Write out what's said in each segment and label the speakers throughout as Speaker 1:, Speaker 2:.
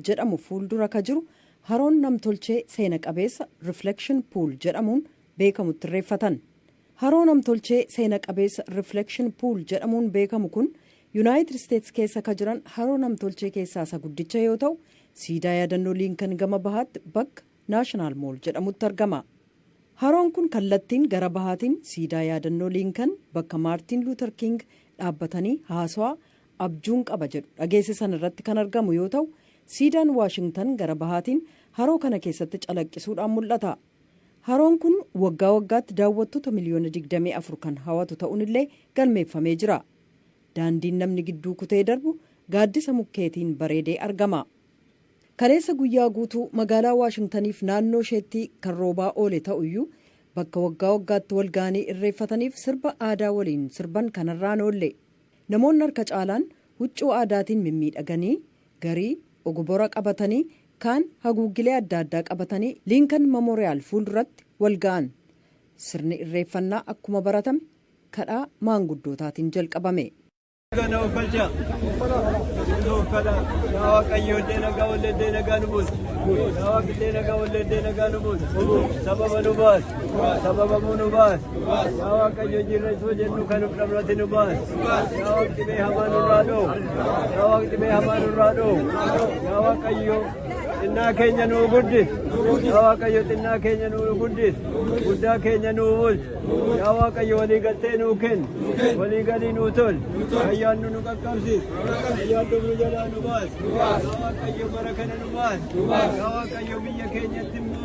Speaker 1: jedhamu fuuldura ka jiru haroon namtolchee seena qabeessa Reflection Pool jedhamuun beekamutti irreeffatan. Haroo namtolchee seena qabeessa Reflection Pool jedhamuun beekamu kun Yunaayitid Isteets keessa ka jiran haroo namtolchee keessaa isa guddicha yoo ta'u, siidaa yaadannoo Liinkan gama bahaatti bakka National Mall jedhamutti argama. Haroon kun kallattiin gara bahaatiin siidaa yaadannoo Liinkan bakka Maartiin Luuter Kiing dhaabbatanii haasawaa abjuun qaba jedhu dhageessisan irratti kan argamu yoo ta'u, siidaan Waashingtan gara bahaatiin haroo kana keessatti calaqqisuudhaan mul'ata. Haroon kun waggaa waggaatti daawwattota miliyoona 24 kan hawatu ta'un illee galmeeffamee jira. Daandiin namni gidduu kutee darbu gaaddisa mukkeetiin bareedee argama. Kaleessa guyyaa guutuu magaalaa Waashingtaniif naannoo isheettii kan roobaa oole ta'u iyyuu bakka waggaa waggaatti wal gahanii irreeffataniif sirba aadaa waliin sirban kanarraa hin oolle. Namoonni harka caalaan huccuu aadaatiin mimmiidhaganii, garii, ogobora qabatanii, kaan haguuggilee adda addaa qabatanii Lincoln Memorial fuulduratti wal ga'an. Sirni irreeffannaa akkuma baratame kadhaa maanguddootaatiin jalqabame. Nagaa na oofkalcha. Nuu uffadha. Yaa Waaqayyo illee nagaa ollee illee nagaa nu buusi. Yaa Waaqillee nagaa ollee illee nagaa nu buusi. Sababa nu baasi. Sababa muu nu
Speaker 2: baas. Yaa Waaqayyo jirra isoo jennu kan of dhabnati nu baas. Yaa Waaqni dhibee hamaa nurraa dhoo. Yaa Waaqni dhibee hamaa nurraa dhoo. Yaa Waaqayyo xinnaa keenya nuu guddis. Yaa Waaqayyo xinnaa keenya nuu guddis. Guddaa keenya nuu bulchi. Yaa Waaqayyo walii galtee nuu kenni. Walii galii nuu tol. Fayyaan nu nu qaqqabsiis. Fayyaan nu nu jalaa nu baas. Yaa Waaqayyo bara kana nu baas. Yaa Waaqayyo biyya keenyatti immoo.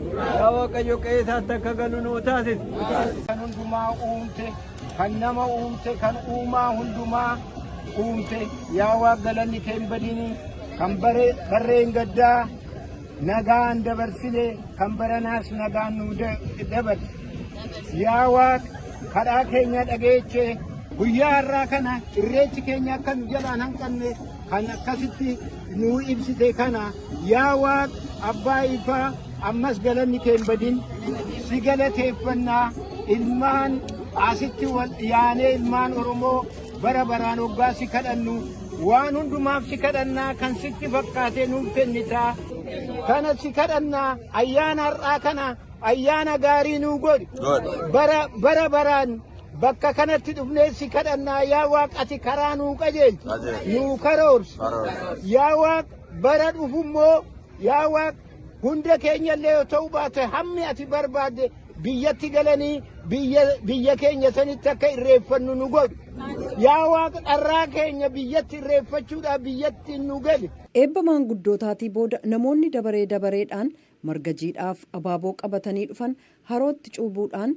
Speaker 2: Yaa Waaqayyo qe'ee isaatti akka galu nuu taasisi. Kan hundumaa
Speaker 3: uumte, kan nama uumte, kan uumaa hundumaa uumte. Yaa Waaq galanni kee hin badini. Kan bare barreen gaddaa nagaan dabarsine, kan baranaas nagaan nu da- dabarsi. Yaa Waaq kadhaa keenya dhageeche guyyaa har'aa kana irreechi keenya akka nu jalaan hanqanne kan akkasitti nuu ibsite kana Yaa Waaq Abbaa Ifaa ammas galanni kee hin badin si galateeffannaa ilmaan asitti wal dhiyaanee ilmaan Oromoo bara baraan hoggaa si kadhannu waan hundumaaf si kadhannaa kan sitti fakkaatee nuuf kennitaa kana si kadhannaa ayyaana har'aa kana ayyaana gaarii nuu godhi bara bara baraan bakka kanatti dhufnee si kadhannaa yaa Waaq ati karaa nuu qajeelchi nuu karoorsi yaa Waaq Bara dhufu immoo yaa Waaq hunda keenya illee yoo ta'uu baate hammi ati barbaadde biyyatti galanii biyya biyya keenya sanitti akka irreeffannu nu godhu. Yaa Waaq dharraa keenya biyyatti irreeffachuudhaaf biyyatti nu gali. Eebba maanguddootaatii
Speaker 1: booda namoonni dabaree dabareedhaan marga jiidhaaf abaaboo qabatanii dhufan harootti cuubuudhaan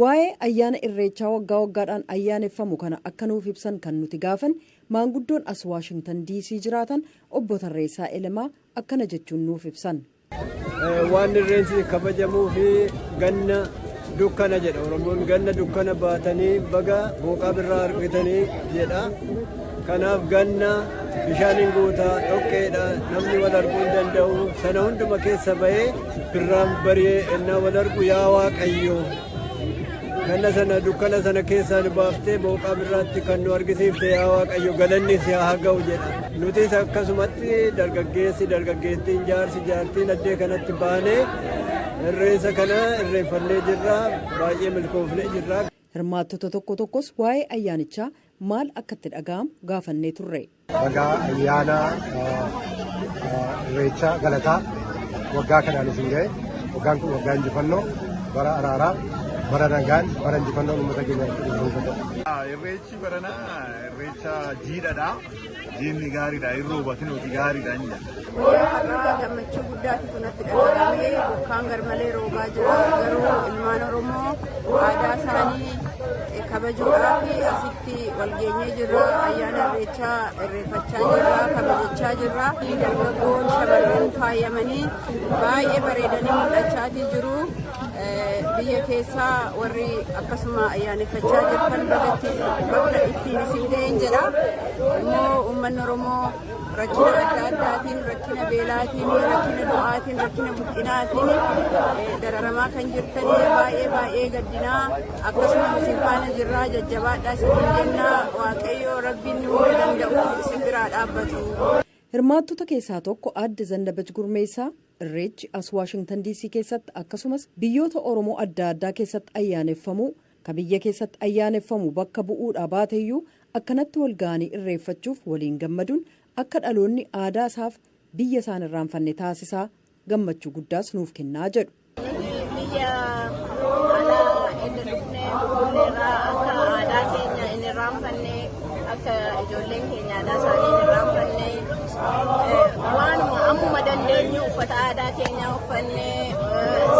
Speaker 1: Waa'ee ayyaana Irreechaa waggaa waggaadhaan ayyaaneffamu kana akka nuuf ibsan kan nuti gaafanne maanguddoon as Waashingtan Diisii jiraatan Obbo Tarreessaa Elemaa akkana jechuun nuuf ibsan. Waan
Speaker 2: Irreenchi kabajamuufi ganna dukkana jedha Oromoon. Ganna dukkana baatanii baga booqaa birraa argitanii jedha. Kanaaf ganna bishaan hin guuta, dhoqqeedha, namni wal arguu hin danda'u. Sana hunduma keessa ba'ee birraan bari'ee ennaa wal argu yaa Waaqayyo ganna sana dukkana sana keessaa nu baaftee booqaa birraatti kan nu argisiifte yaa Waaqayyo galanni si haa ga'u jedha. Nutis akkasumatti dargaggeessi dargaggeettiin jaarsi jaartiin addee kanatti baanee irreessa kana irreeffannee jirra baay'ee milkoofnee jirra. Hirmaattota tokko
Speaker 1: tokkos waa'ee ayyaanichaa maal akka itti dhaga'amu gaafannee turre. Bagaa ayyaana
Speaker 4: irreechaa galataa waggaa kanaan isin ga'e waggaan kun waggaa injifannoo bara araaraa bara nagaan bara injifannoo uummata keenya. Irreechi
Speaker 5: baranaa irreecha jiidhadha. Diinni gaariidha hin roobatin hojii gaariidha hin jedha. Yeroo har'aa
Speaker 6: gammachuu guddaatu kanatti dhaga'amee bokkaan garmalee roobaa jira garuu ilmaan Oromoo aadaa isaanii kabajuudhaaf asitti walgeenyee jirra ayyaana irreechaa irreeffachaa jirra kabajachaa jirra dargaggoon shamarran faayamanii baay'ee bareedanii mul'achaatii jiru. biyya keessaa warri akkasuma ayyaaneffachaa jirtan bagatti bakka ittiin isin ga'een jedha immoo uummanni oromoo rakkina adda addaatiin rakkina beelaatiin rakkina du'aatiin rakkina buqqinaatiin dararamaa kan jirtanii baay'ee baay'ee gaddinaa akkasuma isin faana jirraa jajjabaadhaa isin jennaa waaqayyoo rabbiin hunda danda'u isin biraa dhaabbatu. Hirmaattota
Speaker 1: keessaa tokko aadde Zannabach Gurmeessaa Irreechi as Waashingtan DC keessatti akkasumas biyyoota Oromoo adda addaa keessatti ayyaaneffamuu ka biyya keessatti ayyaaneffamu bakka bu'uudhaa baateyyuu akkanatti wal ga'anii irreeffachuuf waliin gammaduun akka dhaloonni aadaa isaaf biyya isaan irraanfanne taasisaa gammachuu guddaas nuuf kennaa jedhu. Nuti
Speaker 6: biyya alaa inni dhufne Finfinneerraa akka aadaa keenya inni irraanfanne Akka ijoolleen keenya aadaa isaanii hin irraanfanne waanuma ammuma dandeenyu uffata aadaa keenyaa uffannee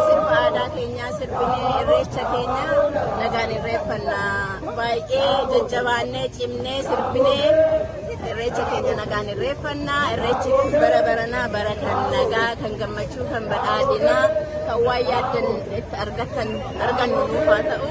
Speaker 6: sirba aadaa keenyaa sirbinee irreecha keenya nagaan irreeffanna baay'ee jajjabaannee cimnee sirbinee irreecha keenya nagaan irreeffanna irreechi kun bara baranaa bara kan nagaa kan gammachuu kan badhaadhinaa kan waan yaaddan itti argattan argannu nuuf haa ta'u.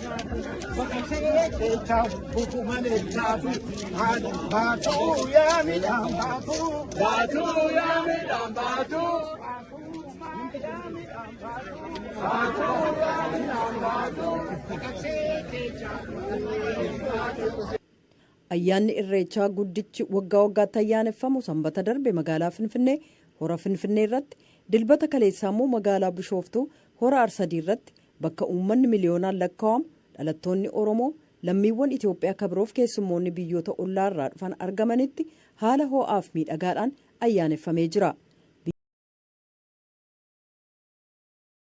Speaker 1: Ayyaanni Irreechaa guddichi waggaa waggaatti ayyaaneffamu sanbata darbe magaalaa Finfinnee hora Finfinnee irratti dilbata kaleessaa immoo magaalaa Bishooftuu hora Arsadii irratti Bakka uummanni miliyoonaan lakkaa'amu, dhalattoonni Oromoo, lammiiwwan Itoophiyaa ka biroof keessummoonni biyyoota ollaa irraa dhufan argamanitti haala hoo'aaf miidhagaadhaan ayyaaneffamee jira.